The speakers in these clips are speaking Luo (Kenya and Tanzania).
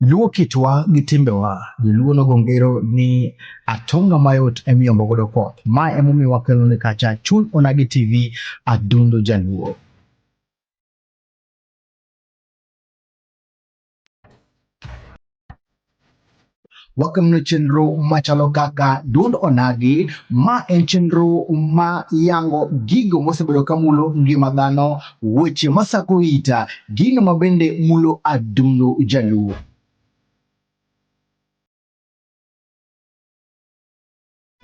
Luo kitwa gi timbewa, Luo nogo ngero ni atonga mayot emiyombo godo koth. Ma emomiyo wakelo ni kacha Chuny Onagi TV Adundo Jaluo. wakelonu chenro machalo kaka dund onagi ma en chenro ma yango gigo mosebedo ka mulo ngima dhano weche masako ita gino ma bende mulo adundo jaluo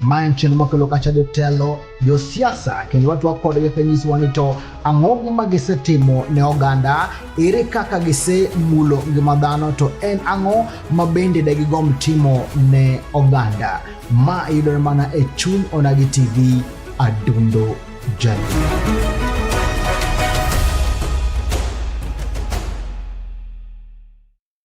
Ma en chenro makelo kacha jotelo, josiasa kendo watwa kodgi kanyisowa ni to ang'o ma gisetimo ne oganda, ere kaka gisemulo ngima dhano, to en ang'o ma bende de gigom timo ne oganda. Ma yudore mana e chuny Onagi TV, Adundo Jaluo.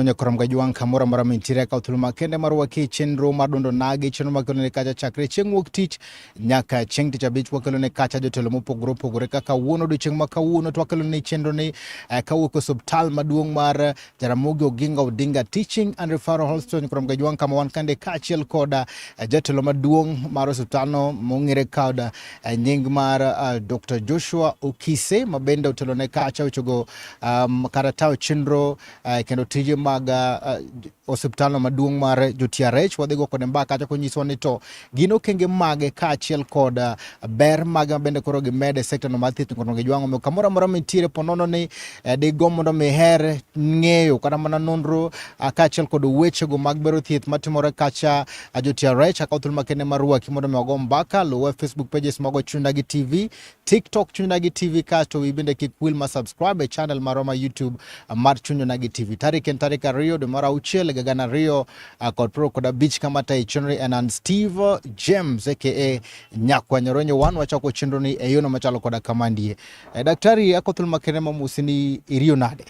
Onyo koro mga jwang' kamoro amora mintiere kaw thuolo makende mar waki chenro mar dundo nagi chenro makelo ne kacha chakre chieng' wuok tich nyaka chieng' tich abich wakelo ne kacha jotelo mopogore opogore kaka wuono odiochieng' ma kawuono to wakelo ne chenro ni eh, kawuok osuptal maduong' mar eh, Jaramogi Oginga Odinga Teaching and Referral Hospital koro mga jwang' kama wan kande kaachiel koda eh, jatelo maduong' mar osuptalno mong'ere koda eh, nying mar uh, eh, Dr. Joshua Okise mabende otelo ne kacha ochogo um, kata tawo chenro uh, kendo tije mag uh, osiptalno maduong' mar jo-TRH wadhigo kode mbaka kacha konyisowa ni to gin okenge mage kaachiel kod uh, ber mage mabende koro gimed e sektano mar thieth kono gijwang'o omiyo kamoro amora mintiere ponono ni uh, digo mondo miher ng'eyo kata mana nonro uh, kaachiel kod wechego mag bero thieth matimore kacha uh, jo-TRH akaw thuolo makende mar rwaki mondo mi wago mbaka luwe facebook pages mago chunda gi tv TikTok Chuny Nagi TV kasto wi bende kik wil ma subscribe e channel marwa ma YouTube mar Chuny Nagi TV. Tarik en tarik ariyo dwe mar auchiel higa gana ariyo kod piero kod abich kama tayo chenro en an Steve James aka Nyakwa Nyoronyo wan wachako chenro ni e yono machalo koda kamandie. E, daktari akothul makere mamusi ni iriyo nade?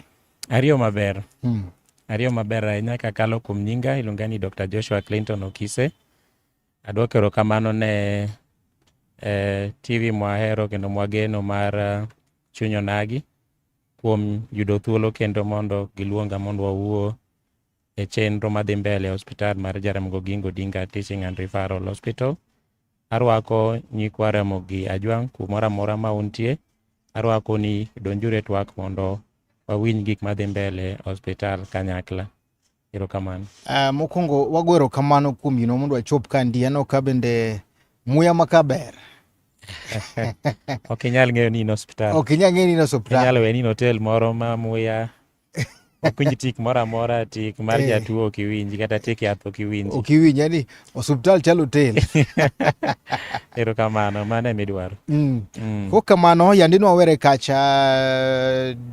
Ariyo maber. Hmm. Ariyo maber ahinya kakalo kuom nyinga iluonga ni Dr. Joshua Clinton Okise. Adwoko erokamano ne eh, TV mwahero kendo mwageno mar eh, Chuny Onagi kuom yudo thuolo kendo mondo giluonga mondo wawuo e chenro madhi mbele e hospital mar Jaramogi Oginga Odinga Teaching and Referral Hospital. Arwako nyikwa Ramogi Ajwang' kumoro amora ma untie. Arwako ni donjuru e twak mondo wawinj gik madhi mbele e hospital kanyakla. Erokamano. Uh, mokwongo wago erokamano kuom yino mondo wachop ka ndi aneno ka bende muya ma ka ber ok inyal ng'eyo ni in osiptal ok inyal ng'eyo ni in osiptal inyal we ni in hotel moro ma muya ok winj tik moro amora tik mar eh. jatuo ok iwinji kata tik yath ok iwinji ok iwinji yani osiptal chal hotel erokamano mano ema idwaro mm. mm. ko kamano yandi nwawere kacha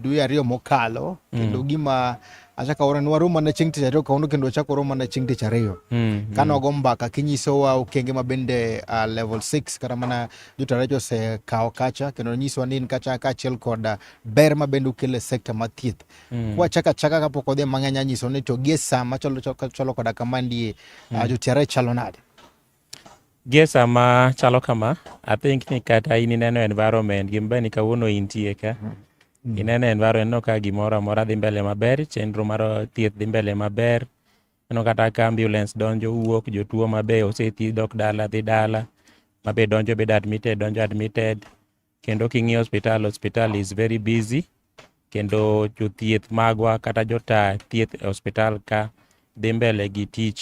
dwe ariyo mokalo kendo mm. gima achakaura ni waroma ne chieng' tich ariyo kawuono kendo wachako roma ne chieng' tich ariyo mm, kane wago mbaka kinyisowa okenge ma bende uh, level 6 kata mana jotaraji osekawo kacha kendo nyisowa ni in kacha kaachiel kod uh, ber ma bende ukele sekta ma thieth mm. kwachaka chaka kapok odhi mang'eny anyiso ni to gie sa machalo koda kama ndie mm. uh, jotiara chalo nade Gie sama chalo kama, I think ni kata in ineno environment gima ber ni kawuono intie ka. Ineno environment ineno ka gimoro amora dhi mbele maber, chenro mar thieth dhi mbele maber. Ineno kata ka ambulance donjo wuok, jotuo ma be osethiedh dok dala dhi dala, ma be donjo bedo admitted donjo admitted. Kendo king'iyo osiptal, osiptal is very busy. Kendo jothieth magwa kata jota thieth e osiptal ka dhi mbele gi tich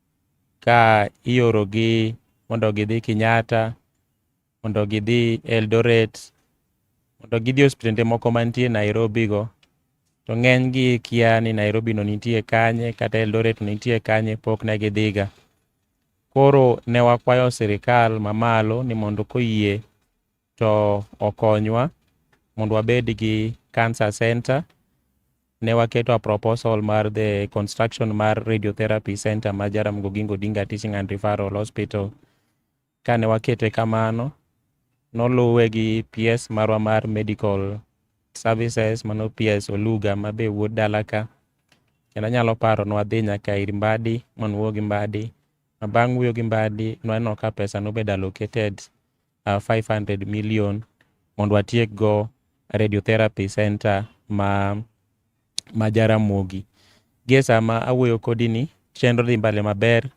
ka iorogi mondo gidhi Kenyatta, mondo gidhi Eldoret, mondo gidhi e osiptende moko mantie Nairobi go. To ng'eny gi kia ni Nairobi no nitie kanye kata Eldoret no nitie kanye, pok ne gidhi ga. Koro ne wakwayo sirikal ma malo ni mondo koyie to okonywa mondo wabed gi cancer center ne waketo a proposal mar the construction mar radiotherapy center ma Jaramogi Oginga Odinga Teaching and Referral Hospital. Kane wakete kamano, noluwe gi PS marwa mar medical services mano PS Oluga ma be wuod dala ka. Kendo anyalo paro ne wadhi nyaka ir Mbadi ma nwuoyo gi Mbadi. Ma bang' wuoyo gi Mbadi nwaneno ka pesa nobed allocated uh, 500 million mondo watiek go radiotherapy center ma ma Jaramogi. Gie sama awuoyo kodi ni chenro dhi mbele maber.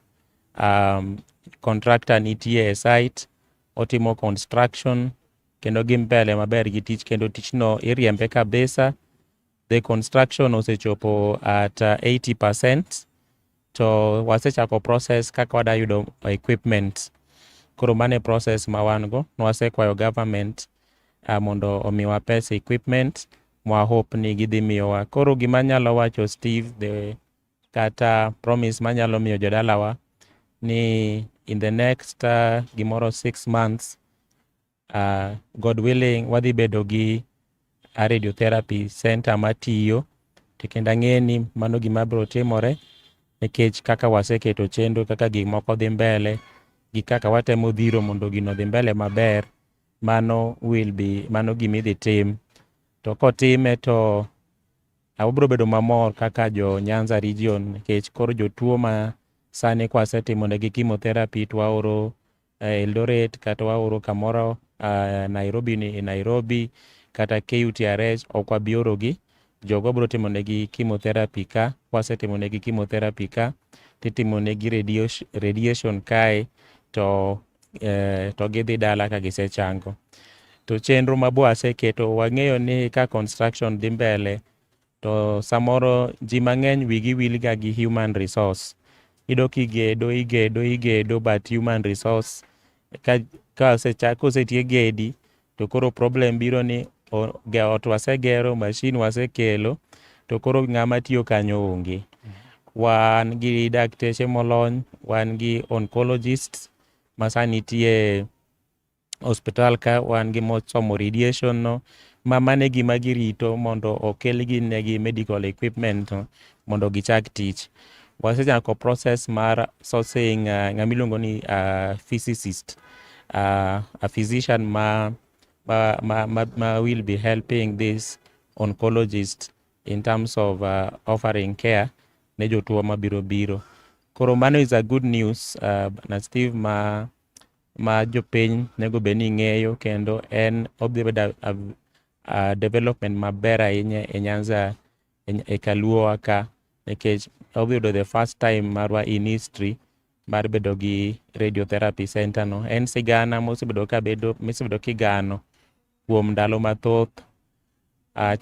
Um, contractor nitie e site otimo construction kendo gi mbele maber gi tich kendo tichno iriembe kabisa The construction osechopo at 80% uh, to wasechako process kaka wada yudo equipment. Koro mane process ma wan go, nwasekwayo government uh, mondo omiwa pesa equipment mwa hope ni gidhi miyowa. Koro gima nyalo wacho Steve the kata promise manyalo miyo jodalawa ni in the next uh, gimoro six months uh, God willing wadhi bedo gi a radiotherapy center matiyo to kendo ang'e ni mano gima biro timore nikech kaka waseketo chenro kaka gik moko dhi mbele gi kaka watemo dhiro mondo gino dhi mbele maber mano will be mano gima idhi tim to kotime to abiro bedo mamor kaka jo Nyanza region nikech koro jotuo ma sani kwasetimonegi chemotherapy to waoro eh, Eldoret kata waoro kamoro ah, Nairobi ni e Nairobi kata KUTRH ok wabi orogi. Jogo wabiro timo negi chemotherapy ka, kwasetimo negi chemotherapy ka titimo negi radiation, radiation kae to eh, to gidhi dala ka gisechango. To chenro ma bwaseketo wang'eyo ni ka construction dhi mbele To samoro ji mang'eny wigi wilga gi human resource. Iyudo kigedo, igedo, igedo but human resource ka ka osechak kosetiek gedi to koro problem biro ni o- ge- ot wasegero, mashin wasekelo to koro ng'ama tiyo kanyo onge. Wan gi dakteche molony, wan gi oncologists ma sani nitie hospital ka wan gi mosomo radiation no ma mane gima girito mondo okel ginegi medical equipment no mondo gichak tich wasechako process mar sourcing uh, ng'ama iluongo ni uh, physicist uh, a physician ma, ma, ma, ma, ma will be helping this oncologist in terms of uh, offering care ne jotuo mabiro biro koro mano is a good news uh, na steve ma ma jopiny nego bed ni ng'eyo kendo en odhi bedo development maber ahinya e Nyanza e Kaluo wa ka nikech odhi yudo the first time marwa in history mar bedo gi radiotherapy center no. En sigana mosebedo ka bedo misebedo kigano kuom ndalo mathoth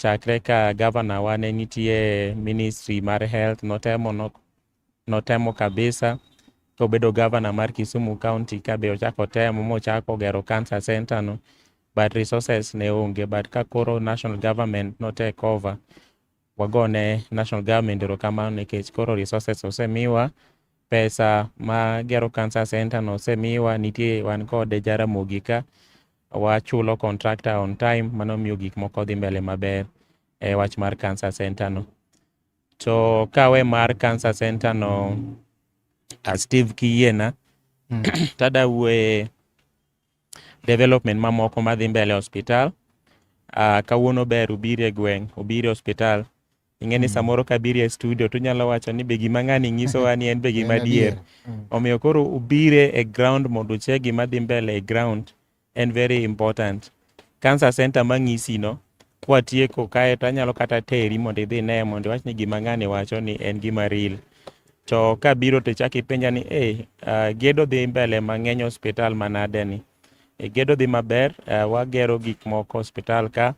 chakre ka gavana wa ne nitie ministry mar health notemo notemo kabisa kobedo governor mar Kisumu County ka be ochako temo mochako gero cancer center no but resources ne onge but ka koro national government no take over wagone national government erokamano nikech koro resources osemiwa pesa ma gero cancer center no osemiwa nitie wan kode Jaramogi ka wachulo contractor on time mano miyo gik moko dhi mbele maber e wach mar cancer center no. To kawe mar cancer center no a Steve Kiyiena mm. tada wuoye development mamoko madhi mbele hospital uh, kawuono ber ubiri e gweng' ubiri hospital ing'e ni mm. samoro kabiri e studio tunyalo wacho ni be gima ng'ani nyisowa ni en be gima adier mm. omiyo koro ubire e ground mondo ucheg gima dhi mbele e ground en very important cancer center mang'isi no kwatieko kae to anyalo kata teri mondo idhi ne mondo iwach ni gima ng'ani wacho ni en gima real to ka biro to chak ipenja ni e uh, gedo dhi mbele mang'eny hospital manade ni e, gedo dhi maber uh, wagero gik moko hospital ka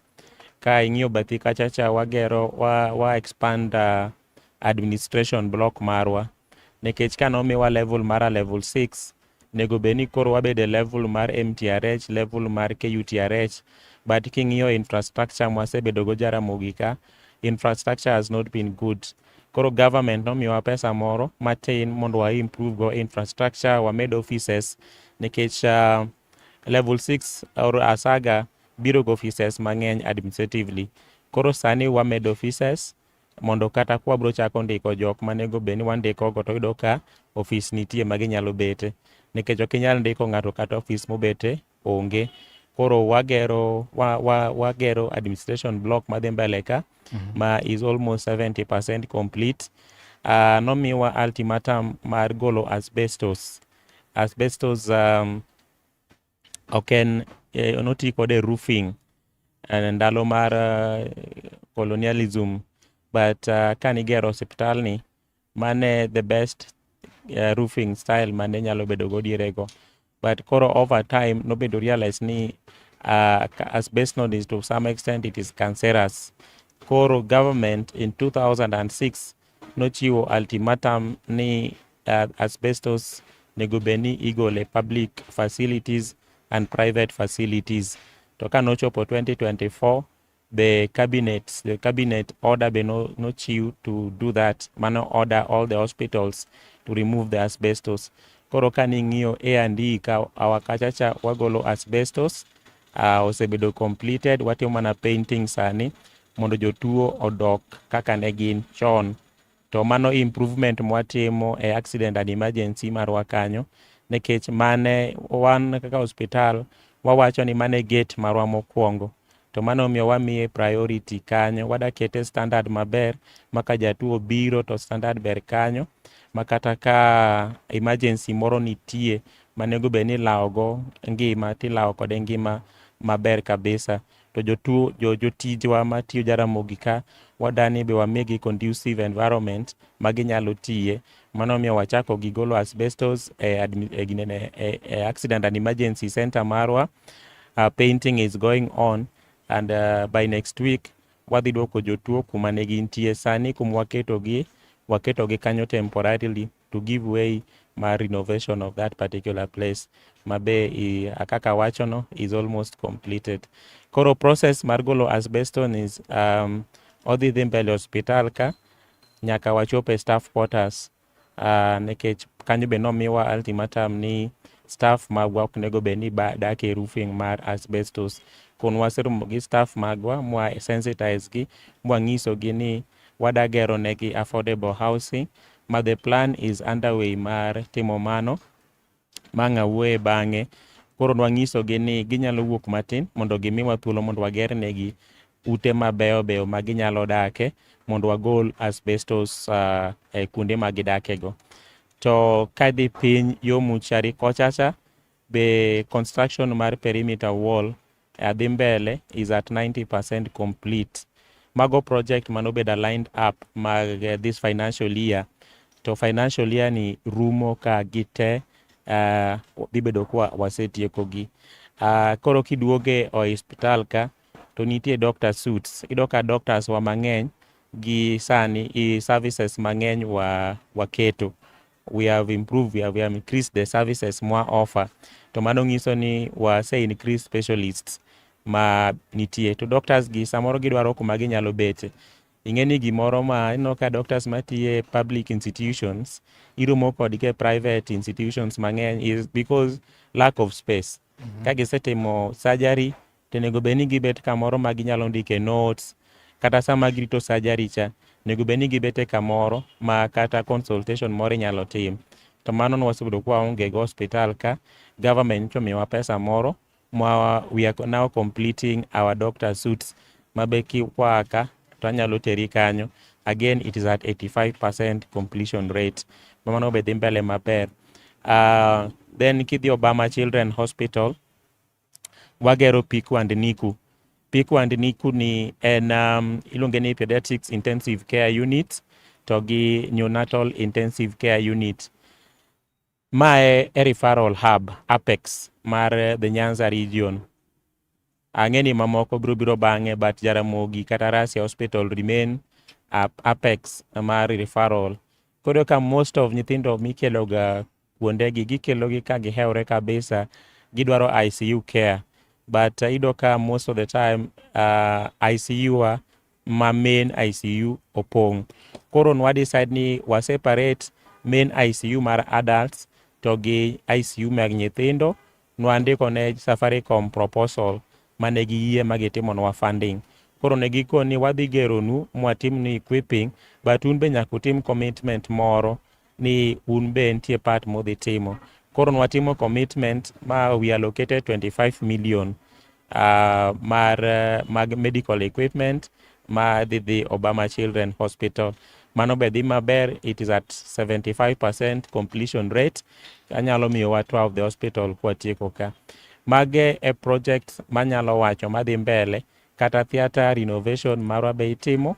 ka ing'iyo bathi kachacha wagero wa, wa expand uh, administration block marwa nikech ka nomiwa level mar a level 6 nego bed ni koro wabed e level mar MTRH, level mar KUTRH, but king'iyo infrastructure mwasebedo go Jaramogi ka, infrastructure has not been good. Koro government nomiyowa pesa moro matin mondo wa improve go infrastructure, wamed offices nikech uh, level 6 or asaga biro go offices mang'eny administratively. Koro sani wamed offices mondo kata kwa bro chako ndiko jok manego bed ni wandiko go to yudo ka ofis nitie ma ginyalo bete nikech ok inyal ndiko ng'ato kata ofis mobete onge koro wagero wa, wa, wagero administration block madhi mbele ka mm -hmm. ma is almost 70% complete uh, nomiwa ultimatum mar golo asbestos asbestos um, ok en eh, noti kode roofing eh, ndalo mar eh, colonialism but uh, kane igero osiptal ni mane the best uh, roofing style mane nyalo bedo go dierego but koro over time nobedo realize ni uh, asbestos is to some extent it is cancerous koro government in 2006 nochiwo ultimatum ni uh, asbestos nego bed ni igole public facilities and private facilities to ka nochopo 2024 the cabinet the cabinet order be no, no chiw to do that mano order all the hospitals to remove the asbestos koro ka ning'iyo A and E ka awa kachacha wagolo asbestos uh, osebedo completed watimo mana painting sani mondo jotuo odok kaka ne gin chon to mano improvement mwatimo e accident and emergency marwa kanyo nikech mane wan kaka hospital wawacho ni mane gate marwa mokwongo to mano omiyo wamiye priority kanyo wadakete standard maber maka jatuo biro to standard ber kanyo makata ka emergency moro nitie manego bed ni ilawogo ngima tilawo kode ngima maber kabisa to jotuo jo, jotijwa matiyo Jaramogi ka wadani be wamigi conducive environment ma ginyalo tiye mano miyo wachako gi golo asbestos e, e, e, e accident and emergency center marwa uh, painting is going on and uh, by next week wadhi duoko jotuo kuma ne gintie sani kuma waketogi waketogi kanyo temporarily to give way mar renovation of that particular place ma be i- kaka awachono is almost completed koro process mar golo asbeston is um, odhi dhi mbele hospital ka nyaka wachop e staff quarters uh, nikech kanyo be nomiwa ultimatum ni staff magwa ok nego bed ni ba- dak e roofing mar asbestos kun waseromo gi staff magwa mwa sensitize gi mwanyisogi ni wadagero negi affordable housing ma the plan is underway mar timo mano ma ng'a wuoye bang'e. Koro nwanyisogi ni ginyalo wuok matin mondo gimiwa thuolo mondo wager negi ute mabeyo beyo ma ginyalo dake mondo wagol asbestos uh, e kuonde ma gidakego. To kadhi piny yo Muchari kochacha The construction mar perimeter wall e adhi mbele is at 90% complete. Mago project manobedo aligned up mag eh, this financial year to financial year ni rumo ka gite uh, dhi bedo kwa wasetiekogi. Uh, ah, koro kiduoge o hospital ka to nitie doctor suits. Iyudo ka doctors wa mang'eny gi sani i services mang'eny wa waketo we have improved, we have, we have increased the services more offer. To mano ngiso ni wa say increase specialists ma nitie. To doctors gi samoro gidwaro kuma ginyalo bete. Ing'e ni gimoro ma ino ka doctors matiye public institutions iromo kod ke private institutions mang'eny is because lack of space. Mm -hmm. Ka gisetimo surgery to onego bed ni gibet kamoro ma ginyalo ndike notes kata sama girito surgery cha onego bed ni gibete kamoro ma kata consultation moro inyalo tim to mano ne wasebedo kwa onge go hospital ka government to miwa pesa moro ma we are now completing our doctor suits ma be kikwaa ka to anyalo teri kanyo again it is at 85% completion rate ma mano be dhi mbele maber uh, then kidhi Obama Children Hospital wagero peak and NICU. Peak and NICU ni en um, iluonge ni pediatrics intensive care unit to gi neonatal intensive care unit. Ma e, e referral hub apex mar eh, the Nyanza region. Ang'e ni mamoko biro biro bang'e but Jaramogi kata Rasia Hospital remain ap- apex mar referral. Koro ka most of nyithindo mikeloga kuondegi gikelogi ka gihewre kabisa gidwaro ICU care but uh, iyudo ka most of the time uh, ICU wa ma main ICU opong. Koro nwa decide ni wa separate main ICU mar adults to gi ICU mag nyithindo Nwandiko ne Safaricom proposal ma ne giyie ma gitimonwa funding. Koro ne gikon ni wadhi geronu mwatimnu equipping but un be nyaka utim commitment moro ni un be nitie part mudhi timo. Koro nwatimo commitment ma we allocated 25 million uh, mar uh, mag medical equipment ma dhi dhi Obama Children Hospital mano be dhi maber it is at 75% completion rate anyalo miyowa tour of the hospital kwatieko ka mage e project manyalo wacho madhi mbele kata theatre renovation marwa be itimo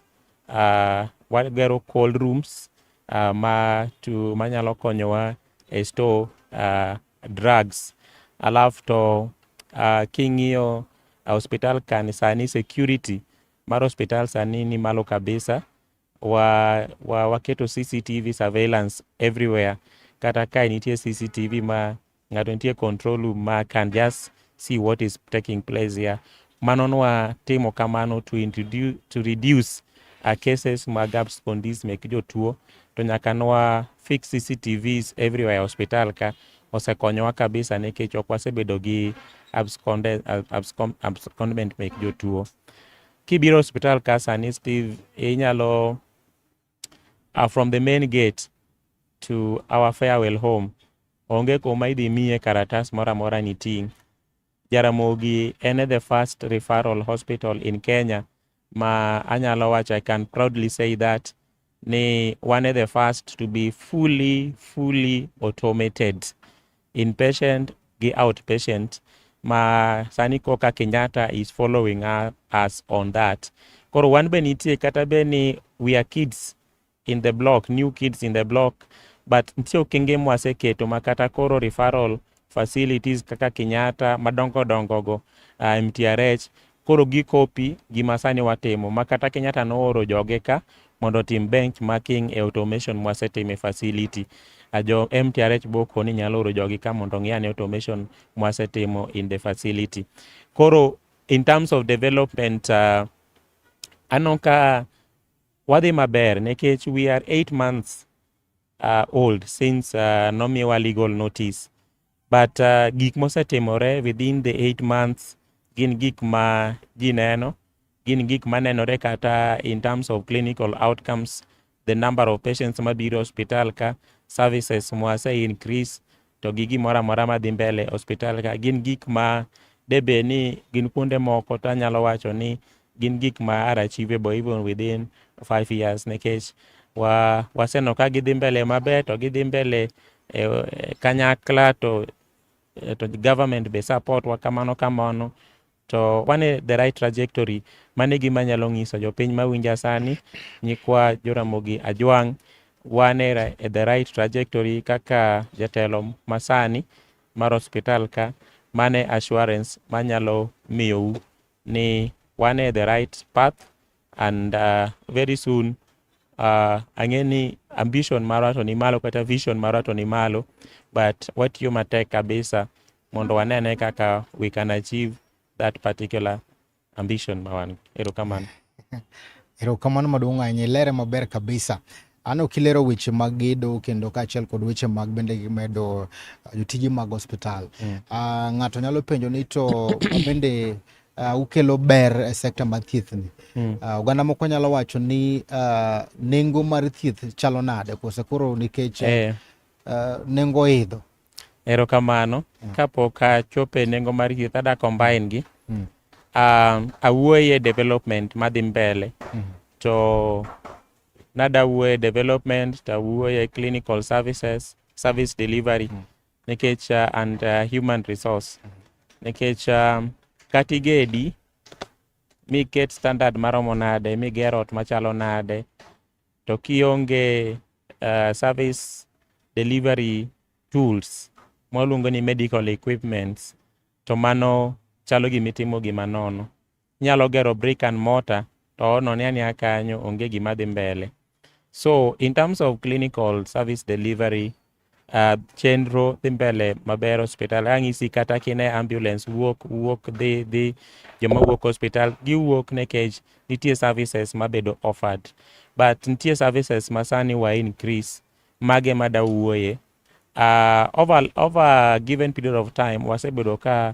uh, wagero cold rooms uh, ma to manyalo konyowa e store uh, drugs alafu to uh, king'iyo uh, hospital kan sani security mar hospital sani ni malo kabisa wa, wa, waketo CCTV surveillance everywhere kata ka nitie CCTV ma ng'ato nitie control room ma can just See what is taking place here. Mano nwa timo kamano to introduce, to reduce uh, cases mag abscondis mek jotuo to nyaka nwa fix CCTVs everywhere e hospital ka osekonyowa kabisa nikech ok wasebedo gi absconde- ab- abscom- abscondment mek jotuo. Kibiro hospital ka sani Steve inyalo uh, from the main gate to our farewell home onge kuma idhi miye karatas moro amora ni ting' jaramogi en e the first referral hospital in kenya ma anyalo wacho i can proudly say that ni one of the first to be fully fully automated inpatient gi outpatient ma sani koka Kenyatta is following us on that. Koro wan be nitie kata be ni we are kids in the block, new kids in the block, but nitie okenge mwaseketo ma kata koro referral facilities kaka Kenyatta madongo dongo go uh, MTRH Koro gikopi gima sani watimo ma kata Kenyatta nooro joge ka mondo otim bench marking e automation mwasetimo e facility. A jo MTRH boko ni nyalo oro jogi ka mondo ong'i ane automation mwasetimo in the facility. Koro in terms of development uh, aneno ka wadhi maber nikech we are eight months uh, old since uh, nomiwa legal notice but uh, gik mosetimore within the eight months gin gik ma ji neno gin gik ma nenore kata in terms of clinical outcomes the number of patients mabiro hospital ka services mwase increase to gi gimoro amora madhi mbele hospital ka gin gik ma debe ni gin kuonde moko to anyalo wacho ni gin gik ma are achievable even within five years nikech wa waseno ka gidhi mbele maber to gidhi mbele e, e, kanyakla to e, to government be support wa kamano kamano To wan e the right trajectory. Mano e gima anyalo nyiso jopiny mawinja sani, nyikwa Joramogi Ajwang', wan e ra- e the right trajectory kaka jatelo masani mar hospital ka, mano e assurance manyalo miyou ni wan e the right path and uh, very soon uh, ang'e ni ambition marwa to ni malo kata vision marwa to ni malo but watiyo matek kabisa mondo wanene kaka we can achieve that particular ambition ma wan erokamano erokamano maduong' ahinya ilere maber kabisa ano kilero weche mag gedo kendo kaachiel kod weche mag bende medo uh, jotije mag hospital mm. uh, ng'ato nyalo penjo ni to bende uh, ukelo ber e sekta mar thieth ni mm. uh, oganda moko nyalo wacho ni uh, nengo mar thieth chalo nade kose koro nikech eh. uh, nengo idho Erokamano. Mm. Kapok achopo e nengo mar youth ada combine gi. Mm. Uh, awuoye development madhi mbele. Mm. To nada wuoye development, ta wuoye clinical services, service delivery. Mm. Nikech uh, and uh, human resource. Mm. Nikech um, katigedi miket standard maromo nade, miger ot machalo nade, To kionge uh, service delivery tools mwaluongo ni medical equipments to mano chalo gima itimo gima nono. Inyalo gero brick and mortar to onone ania kanyo onge gima dhi mbele. So in terms of clinical service delivery uh, chenro dhi mbele maber hospital ang'isi kata kine ambulance wuok wuok dhi dhi joma wuok hospital giwuok nekech nitie services mabedo offered but nitie services masani wa increase mage mada wuoye uh, over, over given period of time wasebedo ka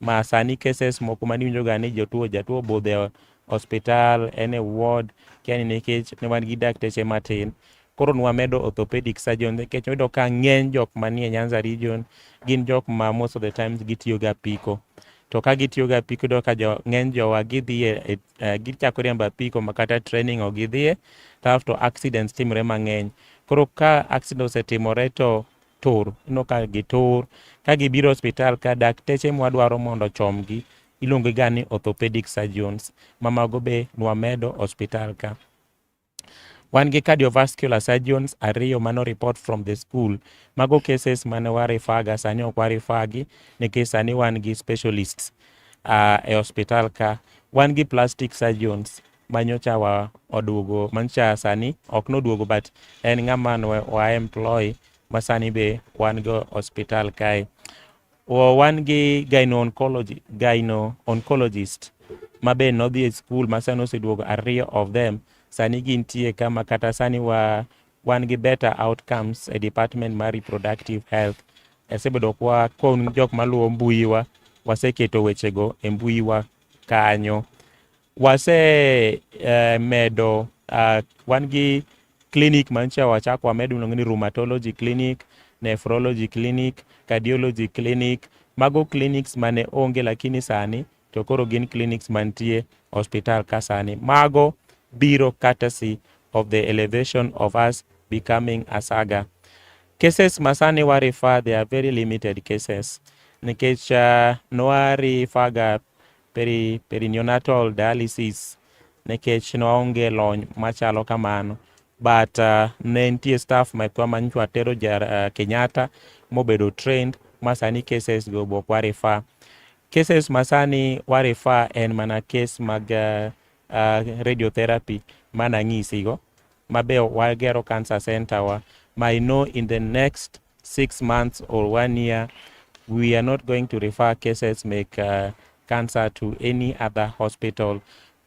ma sani cases moko mane iwinjoga ni jotuo jatuo obudho e hospital en e ward kia ni nikech ne wan gi dakteche matin koro nwamedo orthopedic surgeon nikech wayudo ka ng'eny jok manie Nyanza region gin jok ma most of the times gitiyo ga apiko to ka gitiyo ga apiko iyudo ka jo, ng'eny jowa gidhiye e, e, gichako riembo apiko ma kata training ok gidhiye kasto accidents timore mang'eny koro ka accident osetimore to tur, ineno ka gitur. Ka gibiro e osiptal ka, dakteche mwadwaro mondo ochomgi iluongogiga ni orthopedic surgeons, ma mago be nwamedo e osiptal ka. Wan gi cardiovascular surgeons ariyo mane o report from the school. Mago cases mane wa refer ga, sani ok wa refer gi nikech sani wan gi specialists e osiptal ka. Wan gi plastic surgeons, manyocha wa oduogo manyocha sani ok noduogo but en ng'ama wa employ ma sani be wan go hospital kae o, wan gi gyno oncology gyno oncologist ma be nodhi e skul ma sani oseduogo ariyo of them sani gintie kama kata sani wa wan gi better outcomes e department mar reproductive health asebedo kwa kon jok maluwo mbuyiwa waseketo wechego e mbuyiwa kanyo wase eh, medo ah, wan gi clinic mancha wachako wamedo miluongo ni rheumatology clinic nephrology clinic cardiology clinic mago clinics mane onge lakini sani to koro gin clinics mantie hospital ka sani mago biro courtesy of the elevation of us becoming a saga cases masani wa refer they are very limited cases nikech uh, nwa referga peri, perinatal dialysis nikech ne waonge lony machalo kamano but uh, ne nitie staff mekwa ma nyocha watero uh, Kenyatta mobedo trained ma sani cases go bok wa refer cases ma sani wa refer en mana case mag uh, uh, radiotherapy mana ng'isigo ma be wagero cancer center wa ma I know in the next six months or one year, we are not going to refer cases make uh, cancer to any other hospital.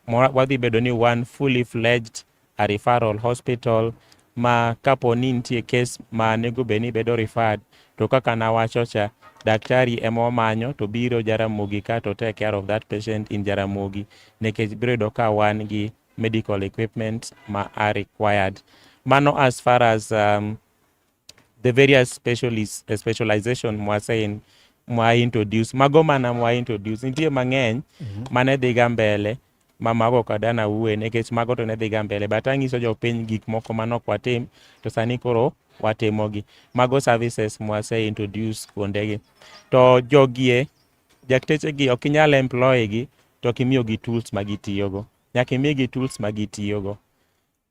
Wadhi bedo ni one fully fledged a referral hospital ma kapo ni nitie kes ma nego bed ni bedo referred to kaka nawacho cha daktari ema omanyo to biro Jaramogi ka to take care of that patient in Jaramogi nikech biro yudo ka wan gi medical equipment ma are required. Mano as far as um, the various specialists, eh, specialization mwasein mwa introduce mago mana mwa introduce nitie mang'eny mm -hmm. mane dhiga mbele ma mago kada na uwe nikech mago to ne dhiga mbele but ang'iso jopiny gik moko manok watim to sani koro watimogi mago services mwase introduce kuondegi to jogie jaktechegi ok inyal employ gi to kimiyogi tools ma gitiyogo nyaka imigi tools ma gitiyogo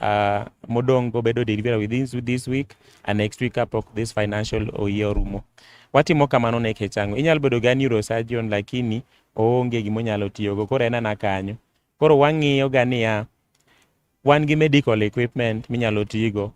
Uh, modong go bedo deliver within this week and next week kapok this financial oyie orumo. Watimo kamano ne kech ang'o? Inyalo bedo ga neurosurgeon lakini oonge gima onyalo tiyogo koro en ana kanyo. Koro wang'iyo ga niya, wan gi medical equipment minyalo tigo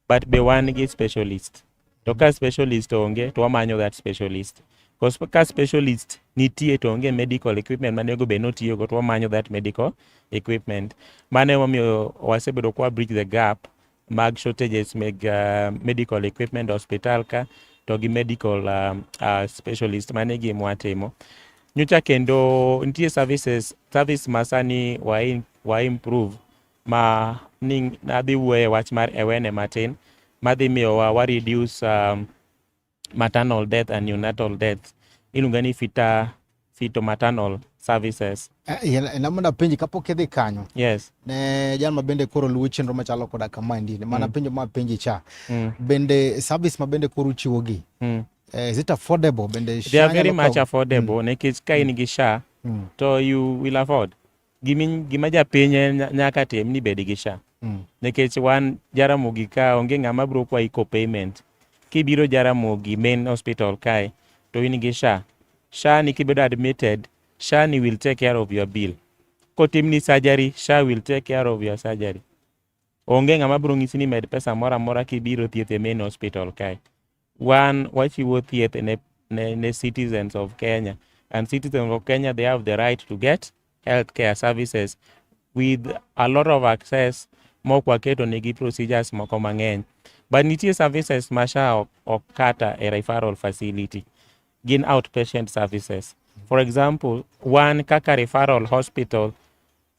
but be wan gi specialist to ka specialist onge to wamanyo that specialist because ka specialist nitie to onge medical equipment mane ogo bed ni otiyogo to wamanyo that medical equipment mano emomiyo wasebedo kwa bridge the gap mag shortages meg uh, medical equipment hospital ka to gi medical uh, uh, specialist mane gi mwatimo nyocha kendo nitie services service masani wa, in, wa improve ma ni adhi wuoyo e wach mar aware matin madhi miyowa wa reduce um, maternal death and neonatal death iluonga ni fita fito maternal services eh, namona penji kapok idhi kanyo yes ne jal ma bende koro luwo chenro machalo koda kamaendi mana mm. penjo ma penji cha mm. bende service ma bende koro uchiwo gi mm. Eh, is it affordable bende they are very much affordable mm. nikech ka in gi sha mm. to you will afford gima japiny nyaka tim ni bed gi sha mm. nikech wan jaramogi ka onge ng'ama biro kwayi ko payment kibiro jaramogi main hospital kae to in gi sha sha ni kibedo admitted sha ni will take care of your bill kotim ni surgery sha will take care of your surgery onge ng'ama biro ng'isi ni med pesa moro amora kibiro thieth e main hospital kae wan wachiwo thieth ne, ne, ne citizens of Kenya and citizens of Kenya they have the right to get health care services with a lot of access mok waketo negi procedures moko mang'eny but nitie services ma SHA ok, ok kata e referral facility gin outpatient services for example wan kaka referral hospital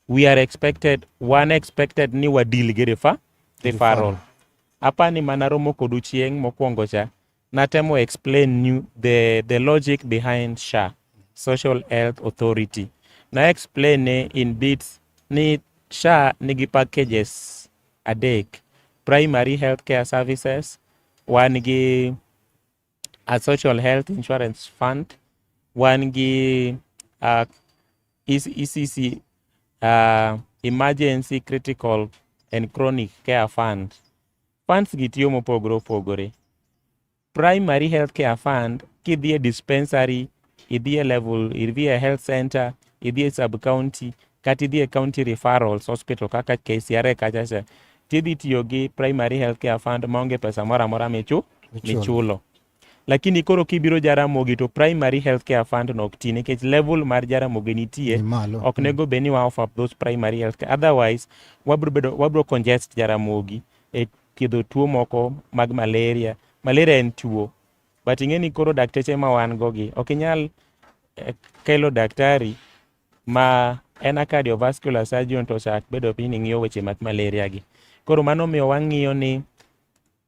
we are expected one expected ni wa deal gi refa referral apa ni mana romo kodu chieng mokwongo cha natemo explain you the the logic behind SHA Social Health Authority na explain ni in bits ni SHA nigi packages adek primary healthcare services wan gi a social health insurance fund wan gi uh, ECC uh, emergency critical and chronic care fund funds gi tiyo mopogore opogore primary health care fund kidhi e dispensary idhi e level idhi e health center idhi e sub county kata idhi e county referrals hospital kaka KCRA kacha cha tidhi tiyo gi primary health care fund maonge pesa moro amora michu michulo lakini koro kibiro Jaramogi to primary health care fund no ok ti nikech level mar Jaramogi nitie Ni malo. ok nego bed ni wa offer up those primary health care otherwise wabro bedo wabro congest Jaramogi e thiedho tuo moko mag malaria malaria en tuo but ing'e ni koro dakteche ma wan go gi ok inyal eh, kelo daktari ma en a cardiovascular surgeon to chak bedo piny ni ng'iyo weche mag malaria gi koro mano miyo wang'iyo ni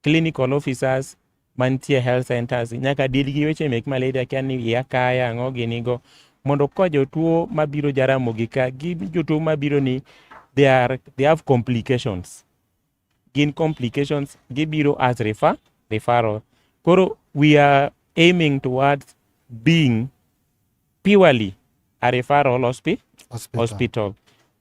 clinical officers mantie health centers nyaka dil gi weche mek malaria kia ni iya kaya ang'o gini go mondo ka jotuo mabiro jaramogi ka gi jotuo mabiro ni they, are, they have complications gin complications gibiro as refer, referral koro we are aiming towards being purely a referral hospi hospital, hospital.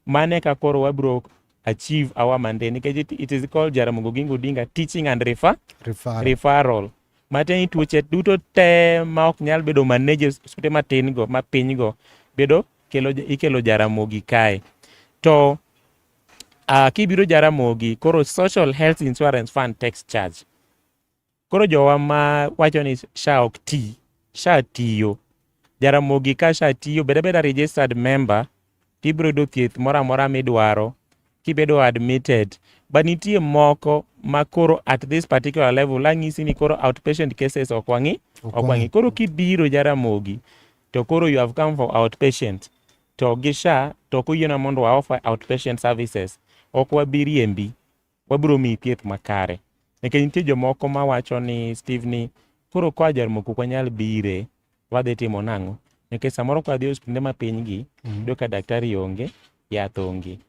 mane ka koro wabiro achieve our mandate nikech it, it is called Jaramogi Oginga Odinga teaching and refer, referral, referral. matiende ni tuoche duto te ma ok nyal bedo manage osipte matin go ma piny go bedo kelo ikelo Jaramogi kae to Ah, kibiro Jaramogi, koro Social Health Insurance Fund tax charge. Koro jowa ma wacho ni SHA ok ti, SHA tiyo. Jaramogi ka SHA tiyo, bed abeda registered member, tibiro yudo thieth moro amora midwaro, kibedo admitted. But nitie moko ma koro at this particular level, ang'isi ni koro outpatient cases ok wang'i, ok wang'i. Koro kibiro Jaramogi, to koro you have come for outpatient. To gi SHA to ok oyiena mondo wa offer outpatient services. Ok wabi riembi. Wabiro miyi thieth makare. Nikech nitie jomoko ma wacho ni Steve ni koro koa Jaramogi ok wanyal bire. Wadhi timo nang'o? Nikech samoro kwa dhi e osiptende ma piny gi, mm. iyudo ka daktari onge, yath onge.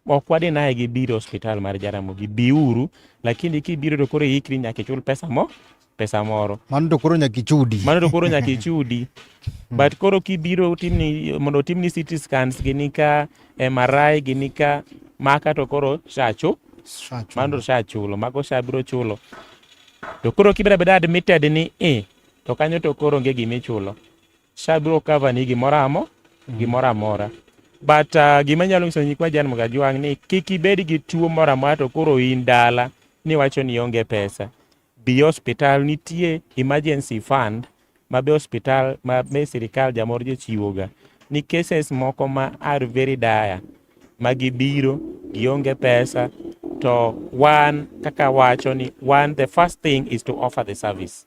ok wadhi naye gi biro hospital mar Jaramogi biuru lakini kibiro to koro ikri nyaka ichul pesa mo pesa moro mano to koro nyaka ichudi mano to koro nyaka ichudi hmm. but koro kibiro timni mondo timni CT scans gini ka MRI gini ka maka to koro shacho mano to shachulo mago shabiro chulo to koro kibeda beda admitted ni e to kanyo to koro onge gima ichulo Sha biro cover ni gimoro amo mm. gimoro amora but uh, gima nyalo nyiso nyikwa Jan Mgajwang' ni kik ibed gi tuo moro amora to koro in dala ni wacho ni onge pesa bi hospital nitie emergency fund ma be hospital ma be sirikal jamor jochiwoga ni cases moko ma are very dire ma gibiro gionge pesa to wan kaka wacho ni wan the first thing is to offer the service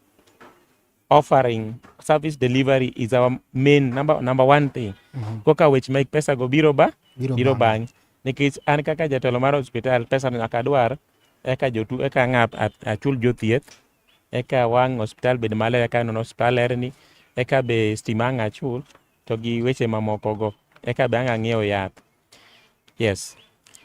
offering service delivery is our main number, number one thing mm -hmm. koka wech mek pesa go biro ba biro, biro bang nikech an kaka jatelo mar hospital pesa no nyaka dwar eka jotu eka ng'a achul jothieth eka wang hospital bed maler eka nono hospital lerni eka be stima ang achul to gi weche mamoko go eka be ang ang'iewo yath Yes.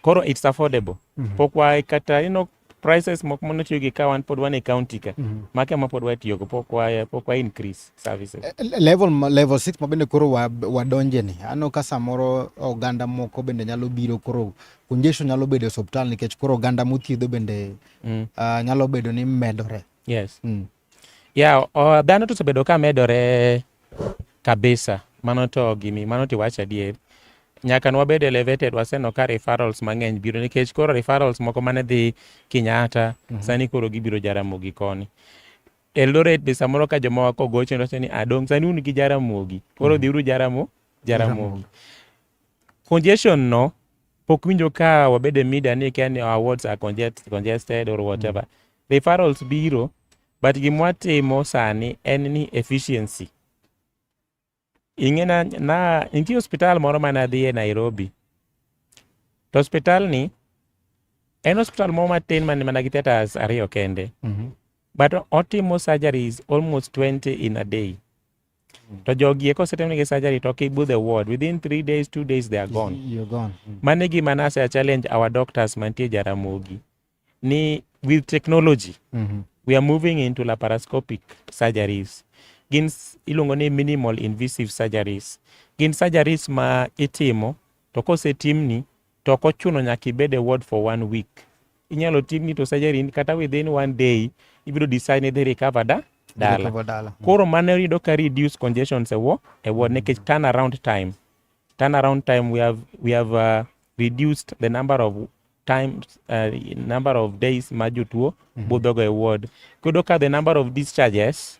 Koro it's affordable. Mm -hmm. Pok wa kata you know prices moko mono tiyo gi ka wan pod wan e county ka. Mm -hmm. Make ma pod watiyo go pok wa pok wa increase services. Eh, eh, level level 6 ma bende koro wa wadonje ni. Ano ka samoro oganda moko bende nyalo biro koro congestion nyalo bedo e hospital nikech koro oganda mothiedho bende mm. uh, nyalo bedo ni medore. Yes. Mm. Ya, yeah, dhano to osebedo ka medore kabisa. Mano to gini, mano to iwacho adier. Nyaka ne wabed elevated, waseneno ka referrals mang'eny biro nikech koro referrals moko mane dhi Kenyatta, mm -hmm. sani koro gibiro Jaramogi koni. Eldoret be samoro ka jomoko kogocho ndoche ni adong' sani un gi Jaramogi. Koro mm -hmm. dhiuru Jaramo, Jaramogi. Congestion no pok winjo ka wabedo e media ni kia ni our wards are congest, congested or whatever mm. referrals biro but gimwatimo sani en ni efficiency ing'ena na nitie hospital moro mane adhi e nairobi to hospital ni en hospital moro matin man mana gi theaters ariyo kende mm -hmm. but otimo surgeries almost 20 in a day to jogi eko osetimnigi surgery to ok ibu the ward within three days two days they are gone, You're gone. Mm. mano e gima nase challenge our doctors mantie jaramogi ni with technology Mhm. we are moving into laparoscopic surgeries gin s- iluongo ni minimal invasive surgeries gin surgeries ma itimo to kosetimni To ok ochuno nyaka ibed e ward for one week. Inyalo timni to surgery kata within one day ibiro decide ni idhi recover da dala. Mhm. Koro mano yudo ka reduce congestions e wo e ward nikech turn around time. Turn around time we have we have uh, reduced the number of times uh, number of days ma jotuo mm -hmm. budhogo e ward. Kudo ka the number of discharges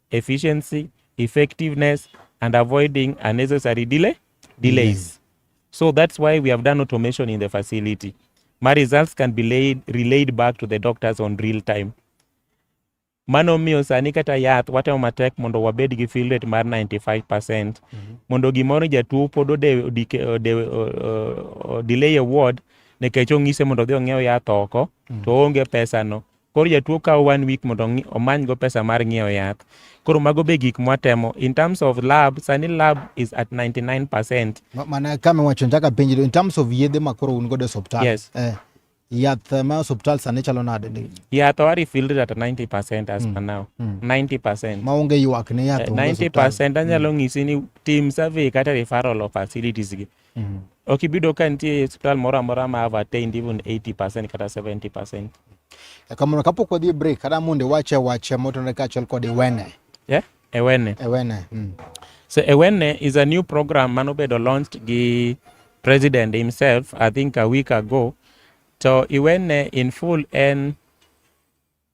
efficiency, effectiveness, and avoiding unnecessary delay, delays. So that's why we have done automation in the facility. My results can be laid, relayed back to the doctors on real time. Mano miyo sani kata yath watemo matek mondo wabed gi fill rate mar 95%. Mm -hmm. Mondo gimoro jatuo pod ode, ode, ode, ode, delay a ward nekech ong'ise mondo odhi ong'iew yath oko mm -hmm. to oonge pesano Koro jatuo kawo one week mondo omany go pesa mar ng'iewo yath. Koro mago be gik mwatemo. In terms of lab, sani lab is at 99%. Mana kama wacho njaka penji in terms of yedhe ma koro un godo e osiptal. Yes. Eh. Yath eh, ma osiptal sani chalo nade? Yath wa refilled at 90% as mm. per now. Mm. 90%. Ma onge ywak ne yath. Uh, eh, 90% anyalo mm. ng'isi ni team survey kata referral of facilities gi. mm -hmm. ok ibido ka nitie hospital moro amora ma have attained even 80% kata 70% e kamano kapok wadhi e break kata mondo iwache wache motenore kaachiel kod iwene yeah? ewene ewene mm. so ewene is a new program mano bedo launched gi president himself i think a week ago to iwene in full en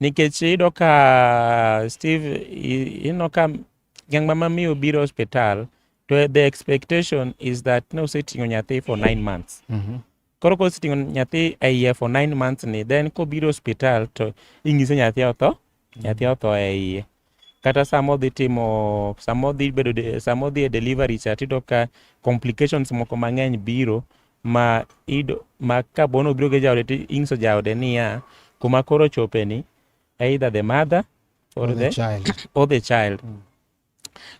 Nikech iyudo ka Steve, ineno ka ng'ama mamiyo biro hospital to the expectation is that ne oseting'o nyathi for nine months. Mm -hmm. Koro koseting'o nyathi e iye for nine months ni then kobiro hospital to ing'ise nyathi otho, mm -hmm. nyathi otho e iye. kata sama odhi timo sama odhi bedo de- sama odhi e delivery cha tiyudo ka complications moko mang'eny biro ma ido ma ka bono obiro gi jaode to ing'iso jaode niya kuma koro ochopeni either the mother or, Or the the, child. or the child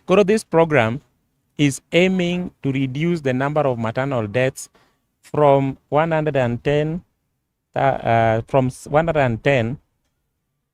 koro this program is aiming to reduce the number of maternal deaths from 110 uh, uh, from s- 110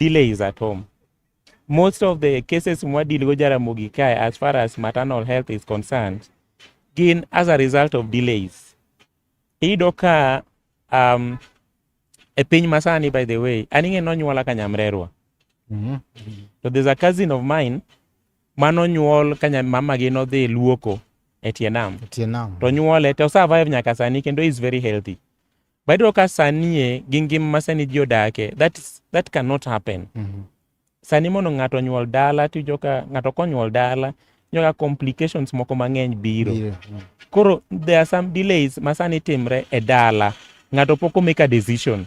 delay is at home most of the cases mwadil go jaramogi kae as far as maternal health is concerned gin as a result of delays iyudo ka um, e piny masani by the way an ing'e nonyuola ka nyamrerwa mm-hmm. to there's a cousin of mine manonyuol ka mamagi nodhi luoko e tie nam to nyuole to survive nyaka sani kendo is very healthy But iyudo ka sanie gi ngima ma sani ji odake, that, is, that cannot happen. Mm -hmm. Sani mondo ng'ato onyuol dala, tijo ka ng'ato konyuol dala, nyoga complications moko mang'eny biro. Yeah. Mm. Koro there are some delays ma sani timre e dala. Ng'ato pok omake a decision.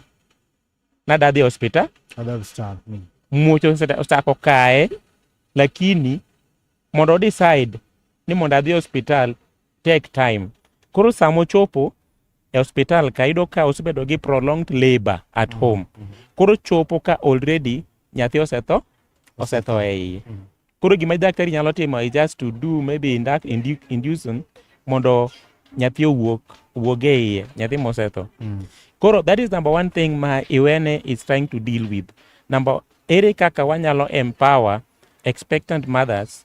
Nada dhi hospital. Nada hospital. Mm. Muoch osechako kae, lakini mondo decide ni mondo adhi hospital take time. Koro sama ochopo e hospital ka yudo ka osebedo gi prolonged labor at mm-hmm. home. Mm-hmm. Koro chopo ka already nyathi osetho, osetho e iye. Mm-hmm. Koro gima daktari nyalo timo is just to do maybe induct, indu, inducing mondo nyathi owuok wuog e iye, nyathi mosetho. Mm. Koro that is number one thing ma Iwene is trying to deal with. Number ere kaka wanyalo empower expectant mothers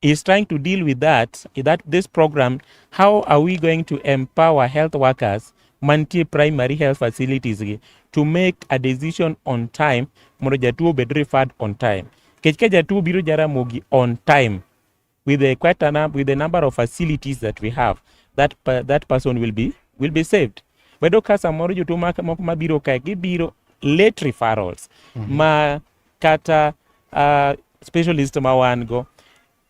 is trying to deal with that that this program how are we going to empower health workers mantie primary health facilities to make a decision on time mondo jatuo obed referred on time kech ka jatuo biro jaramogi on time with the quite a, with the number of facilities that we have that that person will be will be saved wedo ka samoro jotuo moko mabiro kae gibiro late referrals mm -hmm. ma kata uh, specialist ma wan go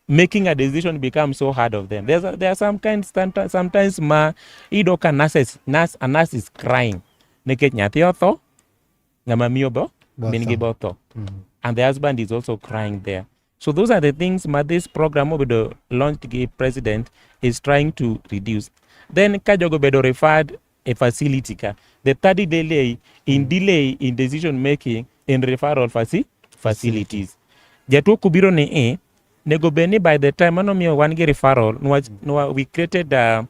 making a decision becomes so hard of them There's a, there are some kinds someti- sometimes ma iyudo ka nurses, nurse, a nurse is crying nikech nyathi otho ng'ama miyo bo Botho. min gi botho and the husband is also crying there so those are the things ma this program mobedo launched gi president is trying to reduce then ka jogo bedo referred a facility ka the third delay in mm. delay in decision making in referral faci facilities jatuo kubiro ni i e, nego bed ni by the time mano miyo wan gi referral nwa, mm. nwa, we created a,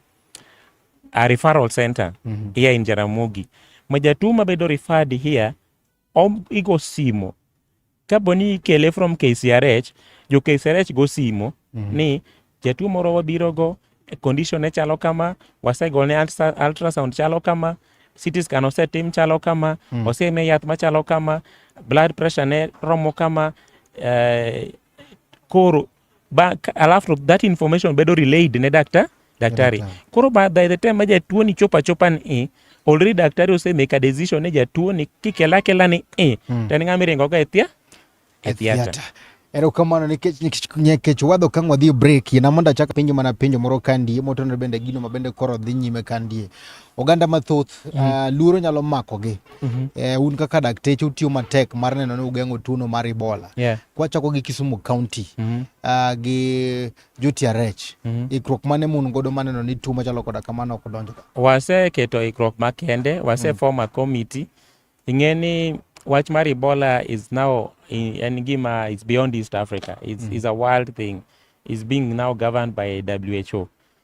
a referral center mm -hmm. here in Jaramogi ma jatuo mabedo referred here om, igo simo Kapo ni ikele from KCRH, jo KCRH go simo mm -hmm. ni jatuo moro wabiro go condition ne chalo kama, wasegone ultrasound chalo kama, CT scan osetim chalo kama, mm. oseme yath machalo kama, blood pressure ne romo kama, eh, koro ba alafu that information bedo relayed ne dakta daktari yeah, koro by the time ma jatuo ni chopa chopa ni e already daktari ose make a decision ne jatuo ni kikela kela ni e mm. tani ngami rengo ga etia etia erokamano nikech nikech wadho kang wadhi break na mondo achak penjo mana penjo moro kandie motenore bende gino mabende koro dhi nyime kandie oganda mathoth mm -hmm. uh, luoro nyalo makogi mm -hmm. uh, un kaka dakteche utiyo matek mar neno ni ugeng'o tuono mar Ebola yeah. kwachako gi Kisumu County mm -hmm. uh, gi JTRH mm -hmm. ikruok mane mun godo maneno ni tuo machalo koda kamano ok donjo waseketo ikruok makende wase mm -hmm. form a committee ing'e ni wach mar Ebola is now en gima is beyond East Africa is, mm -hmm. is a world thing is being now governed by WHO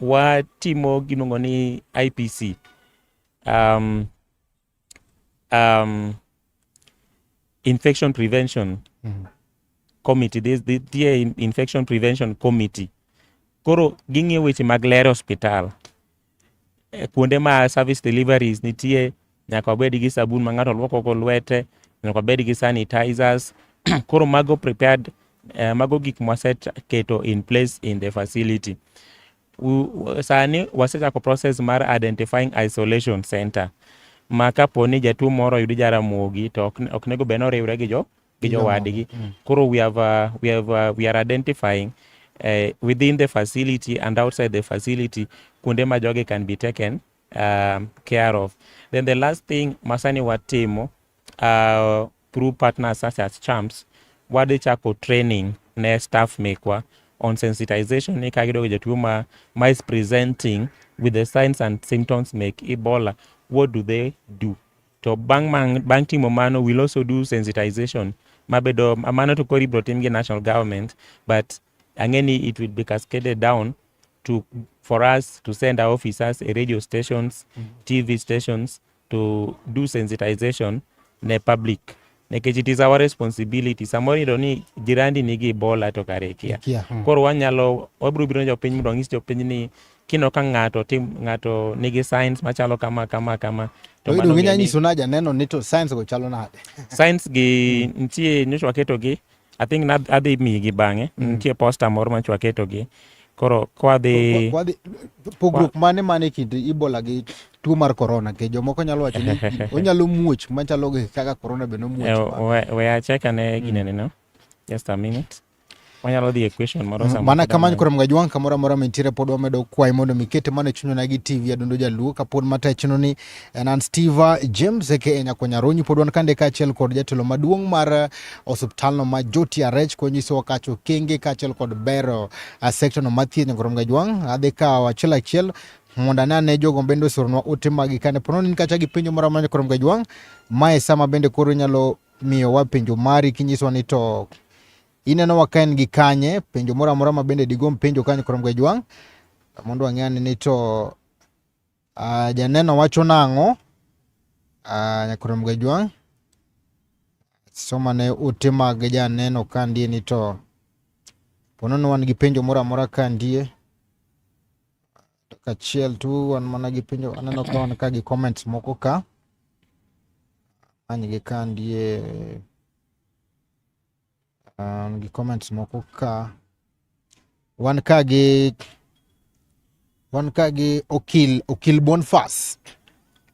watimo giluongo ni IPC um, um, infection prevention mm -hmm. committee this, the, the infection prevention committee koro ging'iyo weche mag lero hospital eh, kuonde ma service deliveries nitie nyaka wabed gi sabun ma ng'ato lwoko go lwete, nyaka wabed gi sanitizers. Koro mago prepared, eh, mago gik mwaseketo in place in the facility. U- Sani wasechako process mar identifying isolation center ma kapo ni jatuo moro oyudi Jaramogi to ok ok nego bed ni oriwre gi jo gi jowadgi. Koro we have, uh, we have, uh, we are identifying uh, within the facility and outside the facility kuonde ma jogi can be taken um, care of. Then the last thing masani watimo uh, through partners such as champs wadhi chako training ne staff mekwa on sensitization ni ka gidogo jatuo ma, ma is presenting with the signs and symptoms make ebola what do they do to bang, bang, bang timo mano will also do sensitization mabedo mano to kori bro tim gi national government but Angeni it will be cascaded down to for us to send our officers a radio stations, mm -hmm. TV stations to do sensitization ne public nikech it is our responsibility samoro iyudo ni jirandi nigi ibola to kare ikia yeah. mm. koro wanyalo wabiro biro jopiny mondo wanyis jopiny ni kino ka ng'ato tim ng'ato nigi science machalo kama kama kama to idu ginya nyiso na janeno ni to science go chalo nade science gi mm. nitie nyocha waketo gi I think na adhi migi bang'e mm. nitie posta moro ma chwa ketogi koro kwadhi pogruok mane mane kind ibola gi tuo mar corona ke jomoko nyalo wacho ni onyalo muoch machalo kaka corona be nomuoch eh, we acheka ne mm. ginene no just a minute wanyalo dhi e question moro mm, mana kamano koro mga jwang' kamoro amora mantiere pod wamedo kwayi mondo mikete mana e chunywa gi tv adundo jaluo kapod matechno ni Enan Steva James aka Nyako Nyarunyi pod wan kande kaachiel kod jatelo maduong' mar eh, osiptalno ma Joti Arech konyisowa kacho okenge kaachiel kod bero eh, sektorno ma thieth Nyagoro Mgajwang'. Adhi kawo achiel achiel mondo ane ane jogo bende osoronwa ote maggi kane po nono in kacha gi penjo moro amora Nyagoro Mgajwang', mae sama bende koro inyalo miyowa penjo mari kinyisowa ni to inenowa ka en gi kanye penjo moro amora ma bende digom penjo ka Nyagoro Mgajwang' mondo wang'e ane ni to Uh, janeno wacho nang'o? Uh, ah, Nyakorom Gajwang' somane ute mag janeno ka ndie ni to pono ni wan gi penjo moro amora ka ndie kachiel tu wan mana gi penjo aneno ka wan ka gi comments moko ka anygi ka ndie Um, gi comments moko ka wan ka gi wan ka gi Okil Okil Bonfas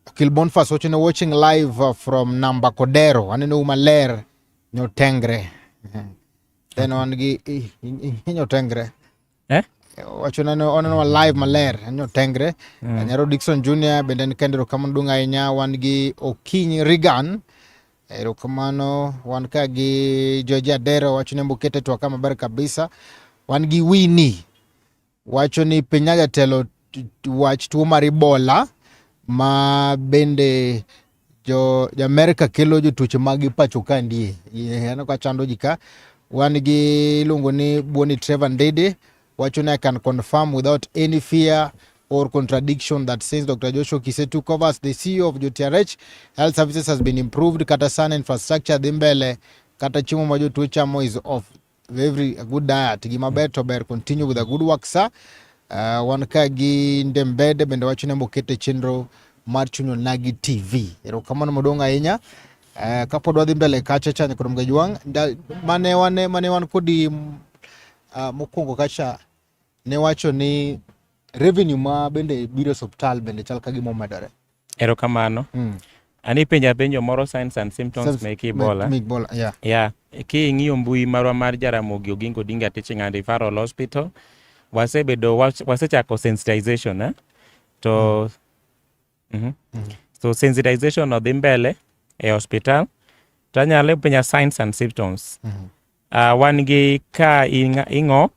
Okil Bonfas wacho ni watching live uh, from Namba Kodero aneno u maler nyotengre then wan gi nyotengre eh? wacho nane onenwa live maler en otengre mm. Eh, nyaro Dickson Junior bende en kendo erokamano duong' ahinya wan gi Okiny Regan erokamano wan ka gi George Adero wacho ni mbokete twaka maber kabisa wan gi Winnie wacho ni piny jatelo wach tuo mar Ebola ma bende jo Amerika kelo jotuoche mag pacho ka ndie aneno ka chando ji ka wan gi iluongo ni Boni Trevor Ndede wacho ni I can confirm without any fear or contradiction that since Dr. Joshua Kise took over as the CEO of JTRH, health services has been improved, kata sana infrastructure dhi mbele, kata chiemo ma jotuo chamo is off Every a good diet gi maber to ber continue with a good work sir. Uh, wan ka gi Ndembede bende wacho ni mokete chenro mar chunyo nagi TV. Erokamano maduong' ahinya. Uh, kapod wadhi mbele kacha cha nyakoro mga jwang' mane wane mane wan kodi uh, mokwongo kacha ne wacho ni revenue ma bende biro e osiptal bende chal ka gima omedore. Erokamano. Mm. An ipenja penjo moro signs and symptoms Self, mek Ebola. Mek Ebola, yeah. Yeah. King'iyo mbui marwa mar Jaramogi Oginga Odinga Teaching and Referral Hospital, wasebedo wasechako sensitization eh? to mm. Mm -hmm. Mm -hmm. so sensitization odhi mbele e hospital to anyalo penja signs and symptoms mm -hmm. uh, wan gi ka ing'ok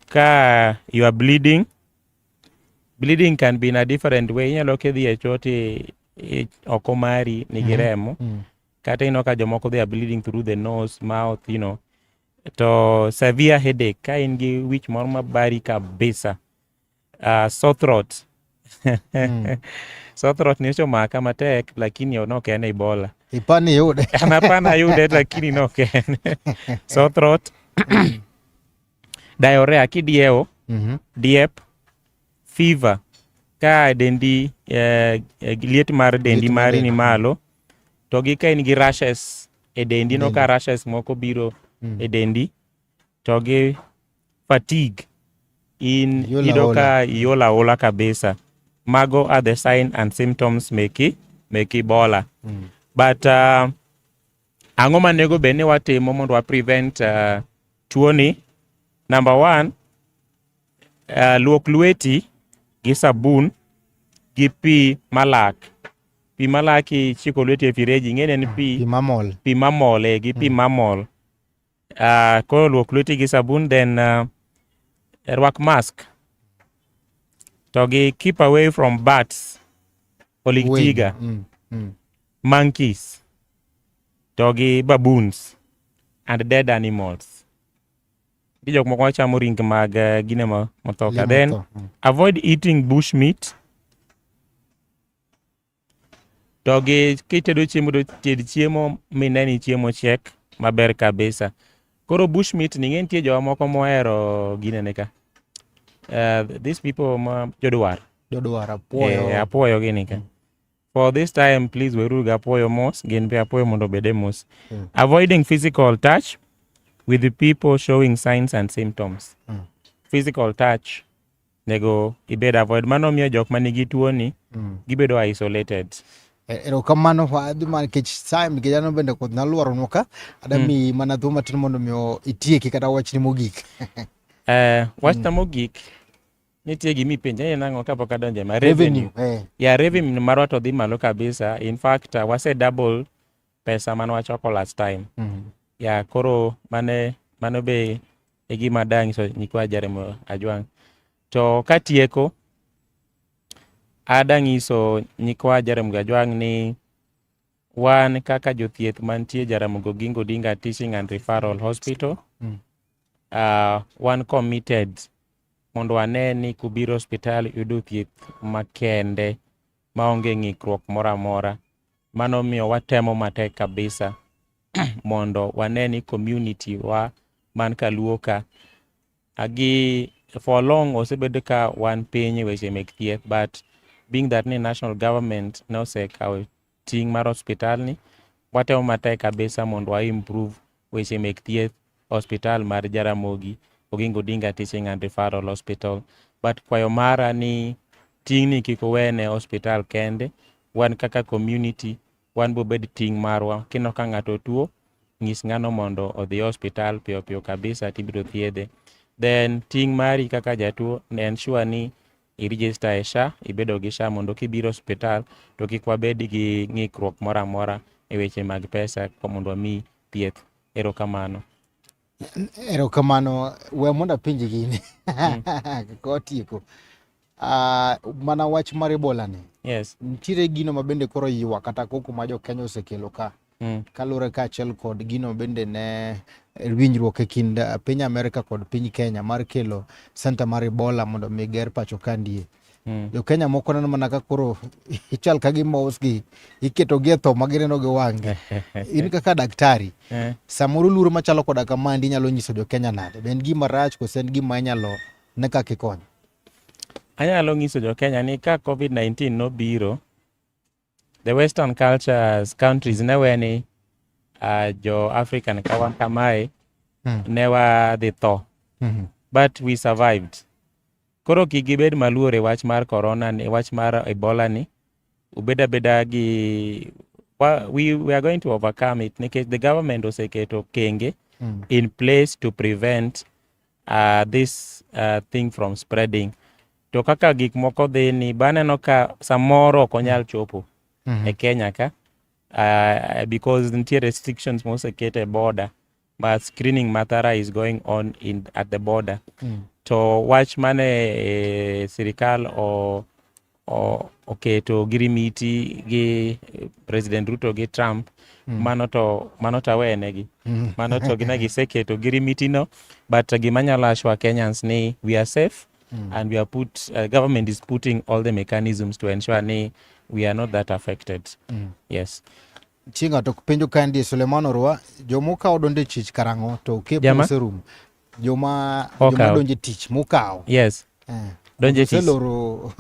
ka you are bleeding Bleeding can be in a different way. Inyalo kidhi e choti e, oko mari nigi mm-hmm. remo. Mm -hmm. Kata ino ka jomoko they are bleeding through the nose, mouth, you know. To severe headache ka in gi wich moro mabari kabisa. Uh, sore throat. mm. Sore throat ni ochomaka matek lakini ok en Ebola. Ipani yude. Hapana yude lakini no ken. Sore throat. Diarrhea kidiewo, Mhm. diep, fever ka dendi eh, eh, liet mar dendi Liet mar mari ni del. malo to gi ka in gi rashes e dendi no ka rashes moko biro Mm. e dendi to gi fatigue in Iola yudo ola. ka iola ola kabisa mago are the sign and symptoms meki meki bola Mm. but uh, Ang'o ma nego bed ni watimo mondo wa prevent uh, tuoni? Number one, uh, luok lweti gi sabun gi pi malak. Pi malak ichiko lweti e fireji, ing'eni en pi pi mamol. pi mamol eh, gi pi mamol. Uh, koro luok lweti gi sabun then uh, rwak mask to gi keep away from bats oligtiga mm, mm. monkeys to gi baboons and dead animals gi jok moko machamo ring mag uh, gine mothoka then mm. avoid eating bush meat To gi kitedo chiemo to ted chiemo mine ni chiemo chiek maber kabisa. Koro bush meat ni ng'e nitie jowa moko mohero ginene ka. Uh, these people ma jodwar. Jodwar apuoyo. Eh, apuoyo gini ka. Mm. For this time please weruru ga apuoyo mos gin be apuoyo mondo obede mos. Mm. Avoiding physical touch with the people showing signs and symptoms. Mm. Physical touch nego ibed avoid mano miyo jok ma nigi tuoni mm. gibedo isolated e, erokamano fa adhi ma nikech saa nikech an bende kod nalwaronwa ka adami mm. mana thuolo matin mondo miyo itieki kata wachni mogik eh, wachna mm. mogik nitie gima ipenja ni nang'o kapok adonje ma revenue, revenue. Eh. ya revenue marwa to dhi malo kabisa in fact uh, wase double pesa mane wachoko last time mm. ya koro mane mano be e gima danyiso nyikwa Jeremy Ajwang to katieko adanyiso nyikwa Jeremy Ajwang ni wan kaka jothieth mantie Jaramogi Oginga Odinga Teaching and Referral Hospital mm. uh, wan committed mondo wane ni kubiro hospital yudo thieth makende maonge ng'ikruok moro amora. Mano miyo watemo matek kabisa mondo wane ni community wa man kaluo ka agi for long osebedo ka wan piny e weche mek thieth but being that ni national government nosekawo ting' mar hospitalni watemo matek kabisa mondo wa improve Weche mek thieth, Hospital mar Jaramogi Oginga Odinga Teaching and Referral Hospital. But kwayo mara ni ting'ni kik owene hospital kende, wan kaka community wan bobed ting' marwa. Kineno ka ng'ato tuo, ng'is ng'ano mondo odhi hospital piyo piyo kabisa tibiro thiedhe. Then ting' mari kaka jatuo ne ensure ni irijista e SHA, ibedo gi SHA mondo kibiro osiptal to kik wabed gi ng'ikruok moro amora e weche mag pesa mondo wami thieth. Erokamano. Erokamano. We mondo apenji gini mm. kotieko. Uh, mana wach mar Ebola ni. Yes. Nitiere gino ma bende koro yiwa kata koko ma jo Kenya osekelo ka. Mm. Kaluwore kaachiel kod gino bende ne winjruok e kind eh, piny Amerka kod piny Kenya mar kelo senta mar Ebola mondo mi ger pacho kandie. Mm. Jo Kenya moko neno mana ka koro ichal ka gi mos gi iketo gi e tho ma gineno gi wang'gi. In kaka daktari, eh. samoro luro machalo koda kamandi inyalo nyiso jo Kenya nade? Be en gima rach kose en gima inyalo ne kaka ikonyo? Anyalo nyiso jo Kenya ni ka Covid-19 nobiro, The western cultures countries ne we ni uh, jo African ka wan kamae mm. ne wadhi tho mm -hmm. but we survived. Koro kik gibed maluor e wach mar corona ni, e wach mar Ebola ni ubeda beda gi well, we, we are going to overcome it nikech the government oseketo kenge mm. in place to prevent uh, this uh, thing from spreading to kaka gik moko dhi ni baneno ka samoro ok onyal chopo Mhm. e Kenya ka uh, because nitie restrictions moseket e border ma screening mathara is going on in, at the border Mm. to wach mane e, sirikal o, o, oketo girimiti gi eh, president Ruto gi Trump Mm. mano to mano to awenegi Mm. mano to gine giseketo girimitino but gima nyalo ashwa Kenyans ni we are safe Mm. And we are put, uh, government is putting all the mechanisms to ensure ni we are not that affected. Mm. Yes. Chinga to penjo kandi Suleiman Orwa, jomo ka odonde chich karango to ke pose room. Joma joma donje tich mukao. Yes. Eh. Donje tich. Seloro.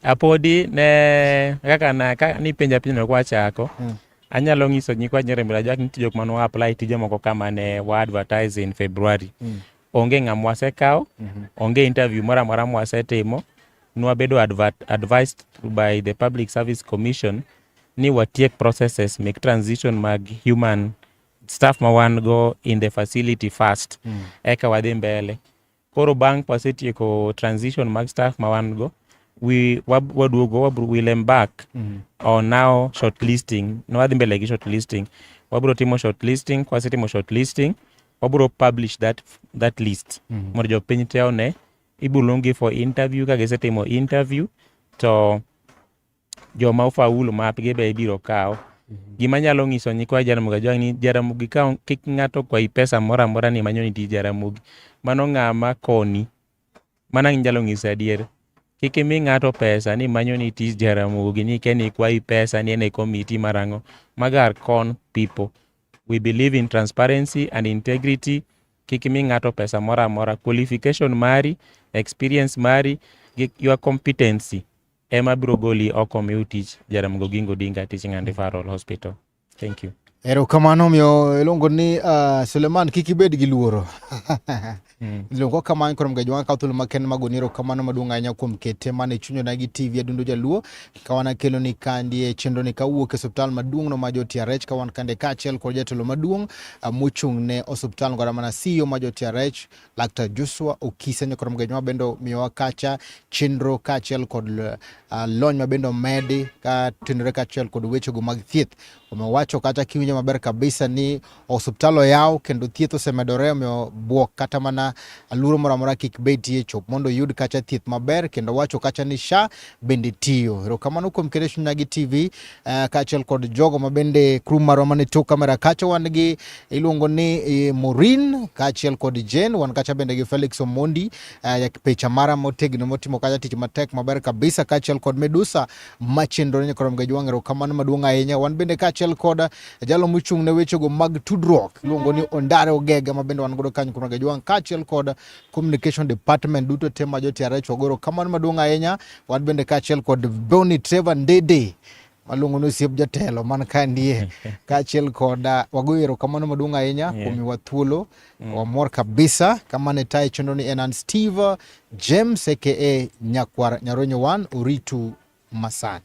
Apodi ne kaka na ka ni penja penjo kwa chako. Mm. anyalo nyiso nyikwa nyirembera jwak nitie jok mane wa apply tije moko kama ne wa advertise in February mm. onge ng'a mwasekawo onge interview moro amora mwasetimo nwabedo advert, advised by the public service commission ni watiek processes mek transition mag human staff ma wan go in the facility first mm. eka wadhi mbele koro bang' kwasetieko transition mag staff ma wan go we wab- waduogo wabro will embark mm. on now shortlisting nwadhi mbele gi shortlisting wabro timo shortlisting kwasetimo shortlisting wabro publish that, that list mm -hmm. mondo jopiny te one ibuluongi for interview ka gisetimo interview to joma ofaulu mapgi be ibiro kawo mm -hmm. gima nyalo nyiso nyikwa jaramogi ajwang' ni jaramogi ka kik ng'ato kwayi pesa moro amora ni manyoni ti jaramogi mano ng'ama koni Mana nyalo ng'isa adier. Kik imi ng'ato pesa ni manyo ni tich Jaramogi ni ken ikwayi pesa ni en e komiti marang'o. Mago are con people. We believe in transparency and integrity. Kik imi ng'ato pesa moro amora. Qualification mari, experience mari, gi your competency ema biro goli oko miu tich Jaramogi Oginga Odinga Teaching and Referral Hospital. Thank you. Erokamano omiyo iluongo ni uh, Suleman kik ibed gi luoro mm. luongo kamano koro mga joma kawo thuolo makende mag goni erokamano maduong' ahinya kuom kete mane chunyona gi TV Adundo Jaluo ka wan akelo ni kandi e chenro ni kawuok e osiptal maduong' no ma jo TRH ka wan kande kaachiel kod jatelo maduong' uh, mochung' ne osiptal ngora mana CEO ma jo TRH Laktar Joshua Okise nyakoro mgeny ma bende miyowa kacha chenro kaachiel kod uh, lony ma bende omedi ka tenore kaachiel kod wechego mag thieth. Omiyo wacho kata kiwinjo maber kabisa ni osiptal oyaw kendo thieth osemedore, omiyo bwok kata mana aluoro moro amora kik betie chop mondo oyud kacha thieth maber, kendo wacho kacha ni SHA bende tiyo. Erokamano kuom keto chunya gi TV uh, eh, kaachiel kod jogo ma bende crew marwa mane tok kamera kacha wan gi iluongo ni e, Morin kaachiel kod Jane wan kacha bende gi Felix Omondi uh, eh, yak picha mara motegno motimo kacha tich matek maber kabisa kaachiel kod Medusa machendo ne krom ga jwang erokamano maduong' ahinya wan bende kaachiel kod jalo mochung' ne wechego mag tudruok iluongo ni Ondare Ogega ma bende wan godo kanyo krom ga jwang kaachiel kod communication department duto te ma jo-TRH wagoro kamano maduong' ahinya wan bende kaachiel kod Boni Trevor Ndede waluongo ni osiep jatelo man ka ndie kaachiel kod ah, wagoyo erokamano maduong' ahinya kuom miwa thuolo mm. wamor kabisa kama ne tayo chenro ni en an Steve James aka Nyakwar Nyaronyo One Oritu Masani